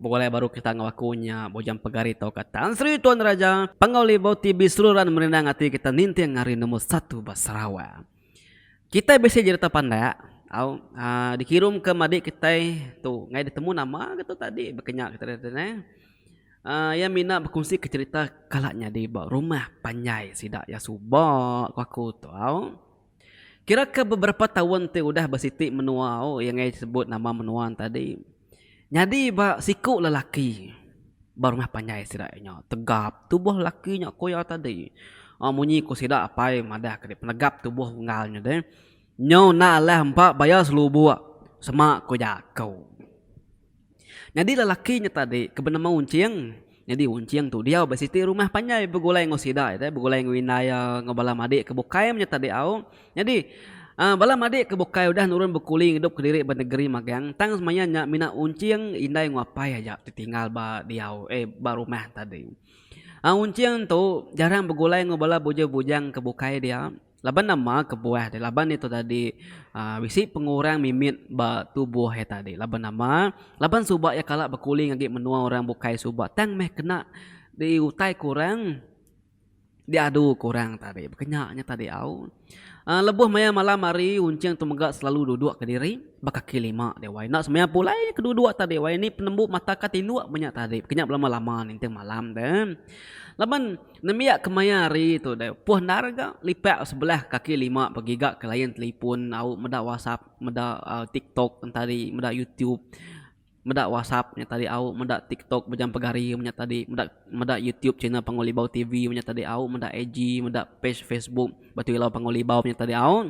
Begulai baru kita enggau aku nya Bujang Pegari tauka Tan Sri Tuan Raja Panggau Libau ti biseluran merindang ati kita ninting ari nombor satu ba Sarawak. Kitai bisi jerita pandak au aaa dikirumka madi kitai tu ngai ditemu nama ke tu tadi baka nya kita kata neh aaa iya mina bekunsika jerita kala nyadi ba rumah panjai sida iya suba ku aku tu au. Kira ke beberapa taun ti udah ba siti menua iya ngagai sebut nama menua ne tadi nyadi ba siku lelaki ba rumah panjai sida iya nya tegap tubuh lelaki nya ku iya tadi uhh munyi ku sida apai madah ke deh penegap tubuh unggal nya deh nyau enda alih empa baya selubok sema ku jaku. Nyadi lelaki nya tadi ke benema Unching, nyadi Unching tu diau ba siti rumah panjai begulai enggau sida ai teh, begulai enggau indai iya, enggau bala madik ke bukai nya tadi au. Nyadi aaa bala madik ke bukai udah nurun bekuli ngidup kediri ba negeri magang, tang semaya nya mina Unching, indai enggau apai aja ti tinggal ba diau eh ba rumah tadi. Aaa Unching tu jarang begulai enggau bala bujang-bujang ke bukai dia. Laban nama kebuah ti laban ditu tadi bisi pengurang mimit ba tubuh iya tadi laban nama laban suba iya kala bekuling agi menua orang bukai suba tang meh kena diutai ku orang diadu ku orang tadi baka nya nya tadi au lebuh maya malam hari uncheng tu mega selalu duduk kediri ba kaki lima wai enda semaya pulai ke duduk tadi wai ni penembu mata ka tinduk menya tadi kenya belama lama ninting malam te laban. Nembiak kemaya hari tu deh upuh endar ga lipak sebelah kaki lima begiga ke layan telefon au meda whatsapp meda tiktok tadi meda youtube meda whatsapp nya tadi au meda tiktok mejam pegari nya tadi meda meda youtube channel panggau libau tv nya tadi au meda ig meda page facebook batu ilau panggau libau nya tadi au.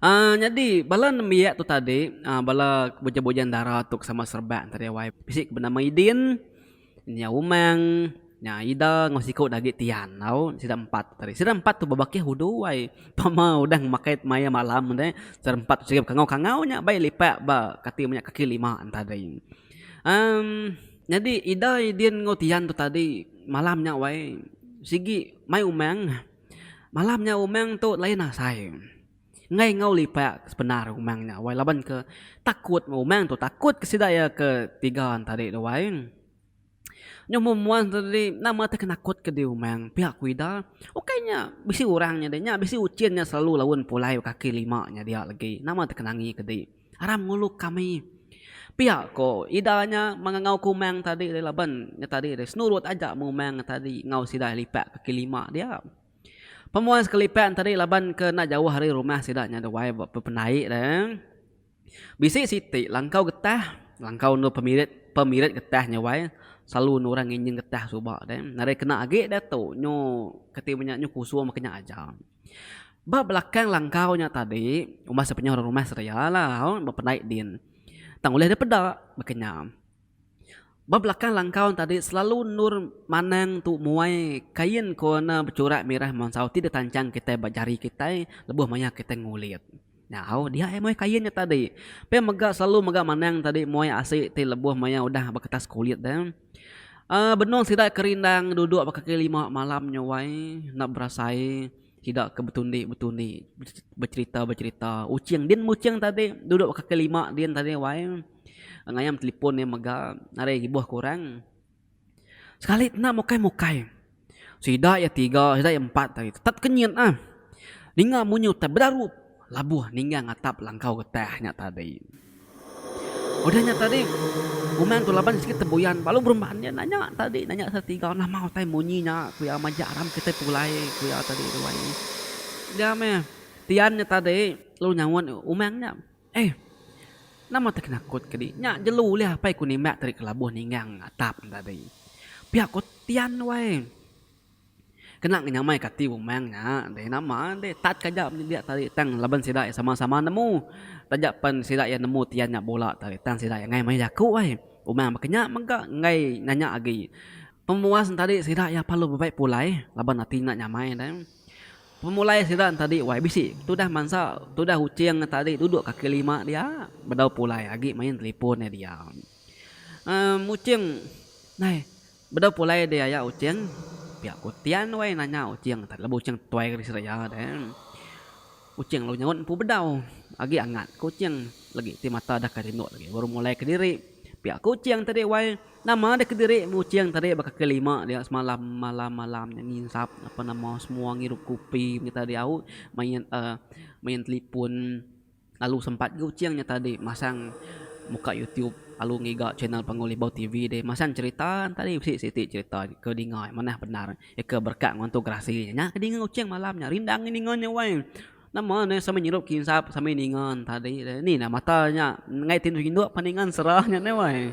Aaa nyadi bala nembiak tu tadi aaa bala bujang-bujang dara tu ke sama Sarebak tadi wai bisi ke benama Idin, nya Umang, nya Ida enggau siku agi Tian tau sida empat tadi. Sida empat tu bebakih udu wai tama udah makai maya malam deh sida empat tu kangau-kangau nya bai lipak ba kati menya kaki lima tadi. Amm nyadi Ida, Idin enggau Tian tu tadi malam nya wai sigi mai Umang. Malam nya umang tu lain asai enggai enggau lipak sependar umang nya wai laban ke takut meh umang tu takut ke sida iya ke tiga ne tadi tu wai nyu mun mbuan tu tadi nama ti penakut ke diri umang pia ku ida ukai nya bisi orang nya dei nya bisi uchin nya silalu laun pulai baka kaki lima nya dia legi nama ti ke nangi kedi. Aram ngulu kami. Pia ko ida nya mangangau ke umang tadi ri laban nya tadi ri senurut aja meh umang nya tadi enggau sida lipat kaki lima dia. Pemuan sekelipat nya tadi laban ke enda jauh ari rumah sida nya dewai ba pependai de. Bisi siti langkau getah, langkau endur pemirit pemirit getah nya wai selalu endur orang nginjing getah suba de. Nadai kena agi diatu nyu kati ibu nya nyu kusung ba ke nya aja. Ba belakang langkau nya tadi, umbas dep nyau orang rumah seraya la bependai din. Tang ulih dep peda baka nya. Ba belakang langkau nya tadi selalu endur manang tu muai kain ko ne bechurak mirah mansau ti ditanchang kitai ba jari kitai lebuh maya kitai ngulit. Nyau dia ai moeh kain nya tadi. Pia mega selalu mega manang tadi moeh asi ti lebuh maya udah ba kertas kulit dah. Uhh benung sida ke rindang duduk ba kaki lima malam nyawai enda berasai sida ke betundi-betundi becherita-becherita uching din meh uching tadi duduk ba kaki lima din tadi wai ngayam telefon mega ari ibuh ke orang. Sekali tenda mukai-mukai. Sida iya tiga, sida iya empat ari tetap kenyit ah. Ninga munyi utai bedarup labuh ninggang atap langkau getah nya tadi. Udah nya tadi Umang tu laban sikit tebuyan lalu berumban iya nanya tadi nanya sida tiga nama utai munyi nya ku iya majak aram kitai pulai ku iya tadi tu ai. Dia meh tiyan nya tadi lalu nyaut umang nya. Eh. Nama teh kena kut ke di nya jelu ulih apai ku nimbak tadi kelabuh ninggang atap nya tadi. Pia ko Tian wai. Kena ngi nyamai ka ati umang nya deh nama deh tat ka ja menyediak tadi tang laban sida iya sama sama nemu. Taja pen sida iya nemu Tian nya bula tadi tang sida iya ngai meh jaku ai. Umang baka nya mega ngai nanya agi. Pemuas nya tadi sida iya parlu bebai pulai laban ati nya nyamai deh. Pemulai sida entadi wai bisi tudah mansa tudah uching entadi duduk kaki lima dia bedau pulai agi main telipon nya dia emm uching nai bedau pulai di aya uching pia ku tian wai nanya uching laban uching tuai ri seraya deh. Kuching lalu nyaut empu bedau. Agi angat Kuching legi ti mata deka tinduk legi baru mulai kediri. Pia Kuching tadi wai nama deh kediri Kuching tadi baka ke lima dia semalam malam-malam nya nginsap apa nama semua ngirup kopi nyata diau main uhh main telefon lalu sempat Kuching nya tadi masang muka YouTube lalu ngiga channel panggau Libau TV deh masang cherita tadi bisi siti cherita ke dinga manah bendar. Eka berekat enggau entu gerasi nya. Nya ke dinga Ucheng malam nya. Rindang ngi ninga nya wai. Nama ne sambil nyirup kinsap sambil ninga tadi deh. Ni nah mata nya enggai ti tinduk pan ninga sera nya deh wai.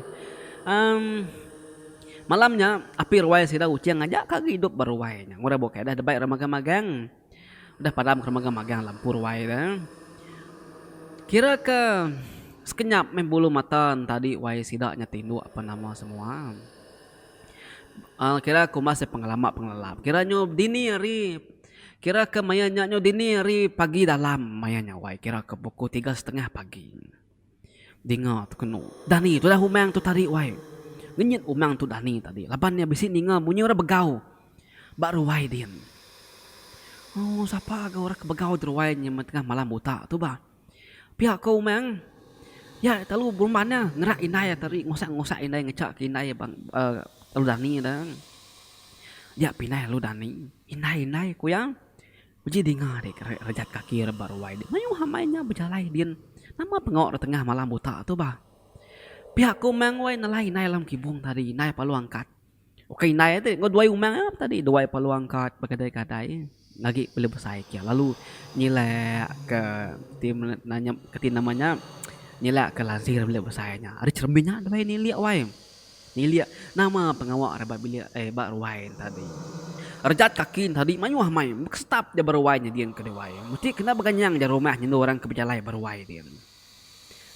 Em Malam nya api ruai sida Ucheng aja ka gi idup ba ruai nya. Ngurang bukai deh debai ra magang magang. Udah padam ke ra magang magang lampu ruai de. Kira ke sekenyap meh bulu mata ne tadi wai sida nya tinduk pan nama semua. Kira kumbas iya pengelama pengelala kira nyu dini hari kira ke maya nya nyu dini hari pagi dalam maya nya wai kira ke pukul tiga setengah pagi dinga tu kenu dani tudah umang tu tadi wai ngenyit umang tu dani tadi laban iya bisi ninga munyi orang begau ba ruai din. Ooh sapa ga orang ke begau ba ruai nyi tengah malam buta tu bah. Pia ko Umang, iya telalu berumban iya ngerak indai iya tadi ngusak-ngusak indai ngecha ke indai iya telalu dani ida. Dia pindah lalu dani indai-indai ku iya beji dinga ri rejat kaki iya rebak ruai dia mayuh amai nya bejalai din nama pengawa rak tengah malam buta tu bah. Pia ko Umang wei nelai indai dalam kibung tadi indai palu angkat. Ukai indai ati enggau duai umang nya ape tadi duai peluang kad begadai-gadai ngagi pelu besai kia lalu nyilek ke ti nanya ti nama nya nyilek ke lazir bilik besai nya. Ari cheremin nya deh nilik wai nilik nama pengawa rak ba bilik eh ba ruai nya tadi. Rejat kaki nya tadi mayuh amai meh ke setap ja ba ruai nyadin ke duai mesti kena beganyang ja rumah nyendu orang ke bejalai ba ruai din.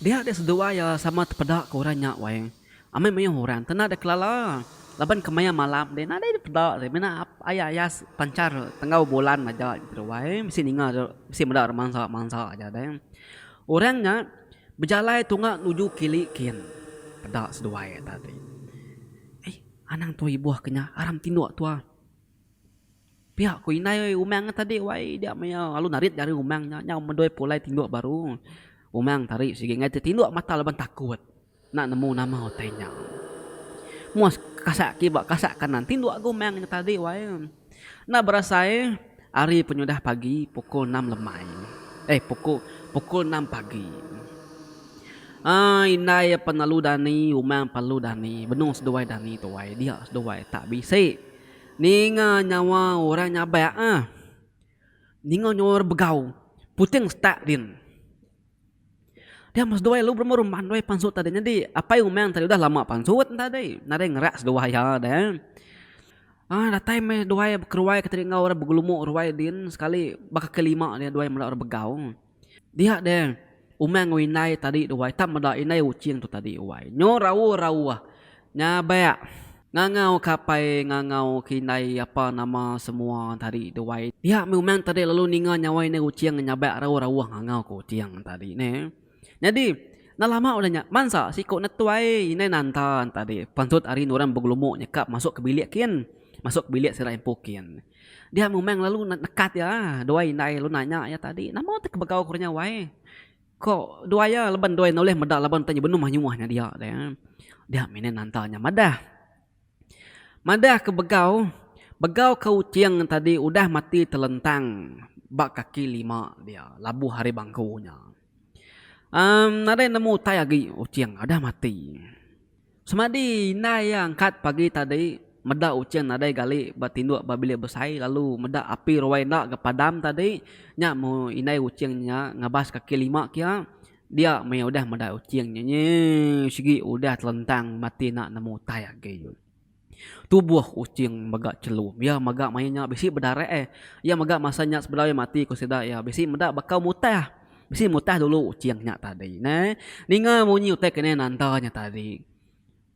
Dia deh seduai iya sama tepeda ke orang nya wai. Amai mayuh orang tenda deka lala laban kemaya malam deh nadai deh peda deh mina ayas-ayas pancar tenggau bulan aja tu wai bisi ninga deh bisi meda romansa-romansa aja deh. Orang nya bejalai tunga nuju kili kin peda seduai ita ti. Ai anang tua ibuh ke nya aram tinduk tua. Pia ku indai umang nya tadi wai dia maya lalu narit ari umang nya nyau medoi pulai tinduk baru. Umang tari sigi ngagai ti tinduk mata laban takut. Enda nemu nama utai nya. Muas kasak ke ba kasak kanan ti dua ga umang nya tadi wai. Enda berasai hari penyudah pagi pukul enam lemai. Eh pukul pukul enam pagi. Ai indai penalu dani umang perlu dani benung seduai dani tu wai dia seduai tak bisi ninga nyawa orang nyabak ah. Ninga nyawa orang begau puting setak din. Dia meh seduai lu berumur mandoi pansut tadi nyadi apai umang tadi udah lama pansut tadi nadai ngerak seduai iya deh um datai meh duai bekeruai ke tadi enggau orang begelumu ruai din sekali ba kaki lima dia duai meda orang begau dia deh umang enggau indai tadi duai ta meda indai uching tu tadi wai nyo rauh rauh. Nya bak ngangau kapai ngangau ke indai apa nama semua tadi tu wai. Pia meh umang tadi lalu ninga nya wai indai Kuching nyabak rau rauh ngangau Kuching tadi neh. Nyadi enda lama udah nya bansa siko netuai indai nanta tadi pansut ari orang Begelumbuk nyekap masuk ke bilik kin. Masuk ke bilik sida empu kin. Dia meh umang lalu nekat iya dua indai lalu nanya iya tadi nama ti kebegau ku nya wai. Ko duai iya leban duai enda ulih meda laban tanya benung mah nyuah nya dia deh. Dia mih nanta nya madah. Madah ke begau, begau ke uting tadi udah mati telentang ba kaki lima dia labuh ari bangku nya. Em nadai nemu utai agi uting udah mati. Semadi indai iya angkat pagi tadi meda unchin nadai gali ba tinduk ba bilik besai lalu meda api ruai enda ga padam tadi nya meh indai unchin nya ngabas kaki lima kia dia meh udah meda unchin nya nyii sigi udah telentang mati enda nemu utai agi. Tubuh Kuching mega chelu. Iya mega mayuh nya bisi bedarak ai. Iya mega masa nya sebedau iya mati ku sida iya bisi meda bakau mutah. Bisi mutah dulu Kuching nya tadi neh. Ninga munyi utai kinih nanda nya tadi.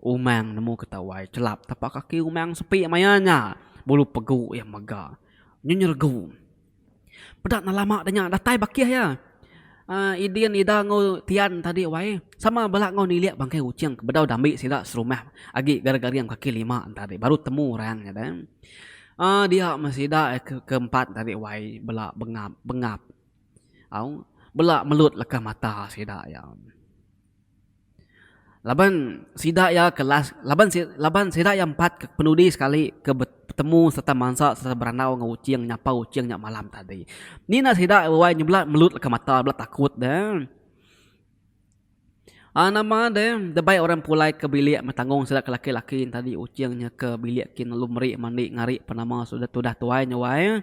Umang nemu Ketawai chelap tapak kaki Umang sepi maya nya. Bulu pegu iya mega nyenyeregung. Peda enda lama da nya datai bakih iya. uhh Idin Ida enggau Tian tadi wai sama bala enggau nilik bangkai Kuching ke bedau dambi sida serumah agi garing-garing kaki lima tadi baru temu orang nya deh. uhh dia meh sida ke ke empat tadi wai bela bengap bengap au bela melut leka mata sida iya. Laban sida iya ke last laban si laban sida iya empat ke penudi sekali ke be betemu sereta mansa sereta berandau enggau Uching nyapa Uching nya malam tadi. Ni enda sida wai nyebela melut leka mata bela takut deh. A nama deh debai orang pulai ke bilik metanggung sida ke laki laki tadi Uching nya ke bilik ti lalu meri mandi ngari penama sudah tudah tuai nya wai.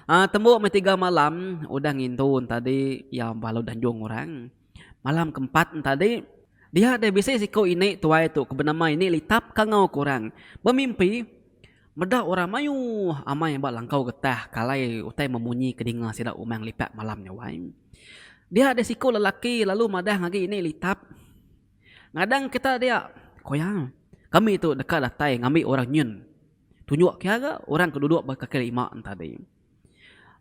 A tembu meh tiga malam udah ngintu tadi iya ba alu danjung orang. Malam ke empat entadi, dia deh bisi siku ini tuai tu ke benama ini Litap ke enggau ke orang bemimpi meda orang mayuh amai ba langkau getah ke alai utai memunyi ke dinga sida Umang Lipat malam nya wai. Dia deh siku lelaki lalu madah ngagi ini Litap, Ngadang kita dia, ku iya, kami tu deka datai ngambi orang nyun. Tunjuk ke iya ga orang ke duduk ba kaki lima entadi.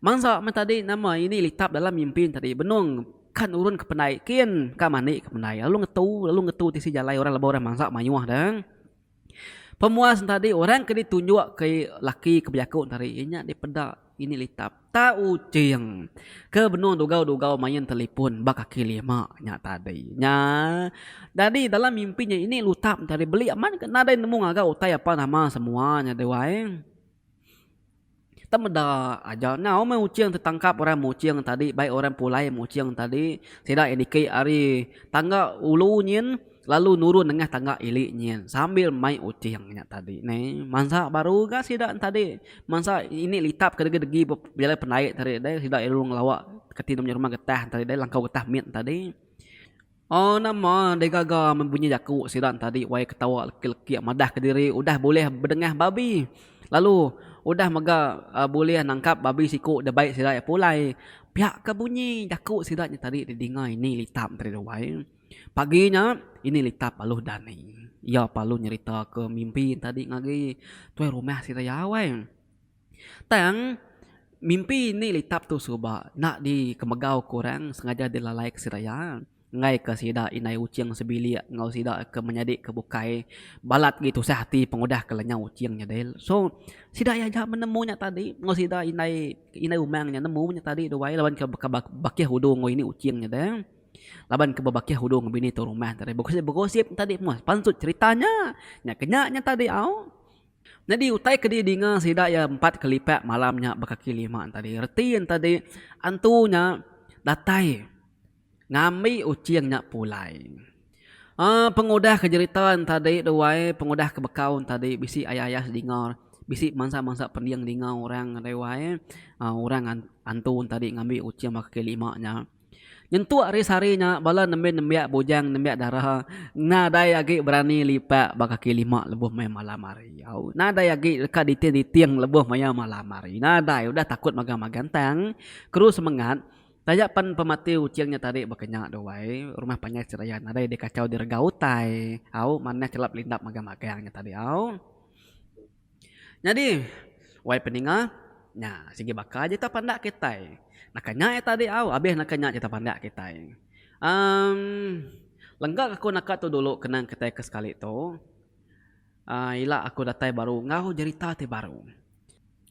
Mansa meh tadi nama ini litap dalam mimpi ne tadi benung ka nurun ke pendai kin ka mandi ke pendai lalu ngetu lalu ngetu tisi jalai orang leba orang mansa mayuh deh. Pemuas ne tadi orang ke ditunjuk ke laki ke bejaku ne tadi iya nya dipeda ini litap ta uting ke benung dugau-dugau main telefon ba kaki lima nya tadi nya. Jadi dalam mimpi nya ini lutap ne tadi beli amat ke nadai nemu ngaga utai apa nama semua nya deh wai. Kita meda aja enggau meh Uching ti tangkap orang Muching tadi bai orang pulai Muching tadi sida iya niki ari tangga ulu nyin lalu nurun nengah tangga ili nyin sambil mai Uching nya tadi neh mansa baru ga sida tadi mansa ini litap ke degi degi pejalai pendai tadi deh sida lalu ngelawa keti deh rumah getah tadi langkau getah mit tadi. Oh nama deh gaga meh bunyi jaku sida tadi wai ketawa leki-leki madah kediri udah bulih bedengah babi lalu udah mega bulih nangkap babi siku deh bai sida iya pulai pia ka bunyi jaku sida nya tadi di dinga ini litap diri wai pagi nya ini litap aluh dani iya parlu nyerita ka mimpi tadi ngagai tuai rumah sida iya wai. Tang, mimpi indi litap tu suba enda dikemegau ku orang sengaja dilalai ke sida iya ngaika sida indai Uching sebilik enggau sida ke menyadi ke bukai balat agi tusah ati pengudah ke lenyau Uching nya deh. So, sida iya aja menemu nya tadi enggau sida indai indai umang nya nemu nya tadi duai laban ke baka bakih udu enggau ini Uching nya deh. Laban ke bebakih udu enggau bini tu rumah tadi begosip-begosip tadi meh pansut cherita nya. Nya ke nya nya tadi au. Nyadi utai ke didinga sida iya empat ke lipat malam nya bekaki lima tadi. Reti enta di antu nya datai ngambi uching nya pulai. Aaa pengudah ke jerita enta di tu ai pengudah ke bekau enta di bisi ayah-ayah dinga bisi mansa-mansa pending dinga orang tu ai aaa orang antu enta di ngambi uching baka ke lima nya. Nyentuk ari sehari nya bala nembi nembiak bujang nembiak dara nadai agi berani lipak ba kaki lima lebuh maya malam hari au nadai agi deka diting diting lebuh maya malam hari nadai udah takut magang magang tang keru semengat taja pen pemati uching nya tadi baka nya tu ai rumah panjai seraya nadai dikachau direga utai au manah chelap lindap magang magang nya tadi au. Nyadi, wai peninga, nya sigi baka aja ita pandak kitai. Naka nya ita di au, abih naka nya ita pandak kitai. Em, lenggak aku naka tu dulu kenang kitai ke sekali tu, em, ila aku datai baru enggau jerita ti baru.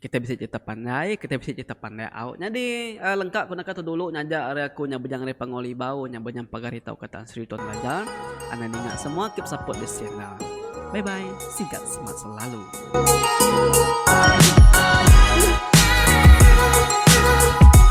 Kitai bisi jerita pandai, kitai bisi jerita pandai au. Nyadi, lenggak aku naka tu dulu ngajar ari aku nya Bujang Ari Pangu Libau nya bejam pagar ita ukai ta. Sri Tuan Belajar Anang ninga semua ke besaput di Sienna Bye bye Sigat semat selalu Thank you.